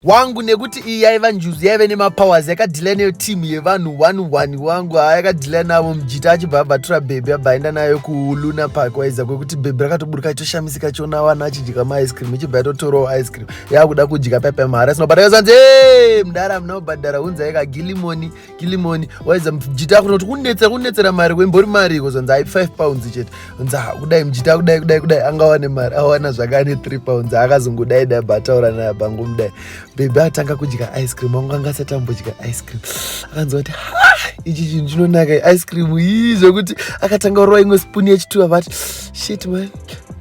wangu nekuti iyi yaiva njuzu yaive nemapowers yakadhila neyo team yevanhu one one wangu haa yakadhila navo mujita achibva abatura bhebhi abva aenda nayo kuluna park waiza kwekuti bhebhi rakatoburuka choshamisika chona vana achidya maice cream ichibva yatotorawo ice cream yakuda kudya paipa mahara sino bata yozanzi e mdara munobhadhara hunzai kagilimoni kilimoni waiza mjita kuno kuti kunetsera kunetsera mari kwembori mari iko zvanzi ai 5 pounds chete nza kudai mjita kudai kudai kudai anga wane mari awana zvaka ane 3 pounds akazongodai dai bataura naye bangu mdai bebe atanga kudya ice cream wangu anga asati ambodya ice cream akanzwa kuti ichi chinhu chinonaka ice cream ii zvekuti akatanga kurova imwe spoon yechitu avati shit man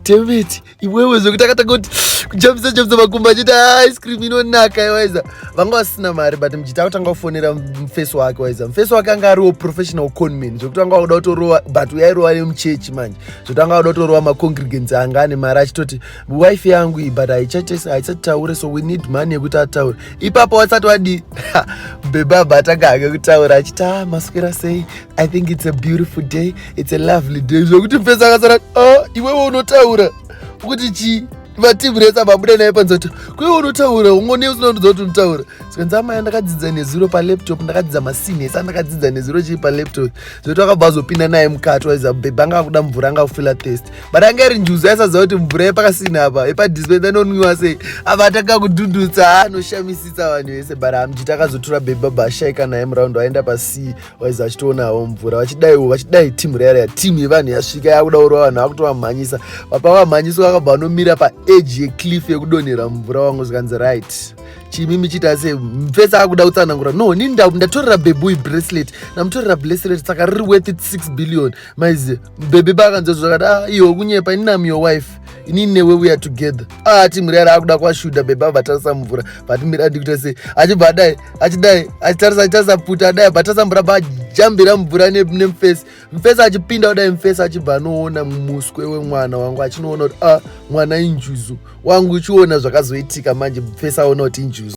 demeti iwewe zvekuti akatanga kuti kujambisa jambisa makumbo achiti ah, ice cream inonaka iwaiza vanga vasina mari but mjiti akutanga kufonera mfesi wake waiza mfesi wake anga ariwo professional conman zvekuti anga wakuda kutorova but uyairova nemuchechi manje zvekuti anga wakuda kutorova macongregants anga ane mari achitoti wife yangu iyi but haisataure so we need money yekuti ataure ipapo wasati wadii bebaba atanga ake kutaura achiti ah, maswera sei I think it's a beautiful day, it's a lovely day. Zvokuti mfesi akasara, oh, iwewe unotaura kuti chii vatimuresa vabuda naye panzi kuti kuiwe unotaura ungone usina kutidza kuti unotaura zikanzi amaya ndakadzidza nezuro palaptop ndakadzidza masini ese andakadzidza nezuro chii palaptop zvokuti akabva azopinda naye mukati waiza bhebha anga akuda mvura anga kufila test but anga iri njuzu aisaziva kuti mvura yepakasini apa yepadispensa inonwiwa sei apa atanga kudhudhutsa anoshamisisa vanhu vese but amjita akazotura bhebha bhashaika naye muraundi waenda pasii waiza vachitoonawo mvura vachidaiwo vachidai timu rearea timu yevanhu yasvika yakudaurwa vanhu vakutovamhanyisa vapa vamhanyiswa vakabva vanomira paeji yecliff yekudonhera mvura wangu zvikanzi right chimi michiita se mfesi akuda kutsanangura no ni ndatorera bebui bracelet ndamutorera bracelet saka riri worth it six billion maizi bebe baakanzwa zvakati ah iyo kunyepa ini nam your wife ini newe weare together ah timu rearea akuda kwashuda bebe avatarisa mvura vatimira ndikuita se achibva adai achidai achitarisa achitarisa pfuti adai but asamboramba ajambira mvura nemufesi mufesi achipinda kudai mufesi achibva anoona muswe wemwana wangu achinoona kuti a ah, mwana injuzu wangu uchiona zvakazoitika manje mufesi aona kuti injuzu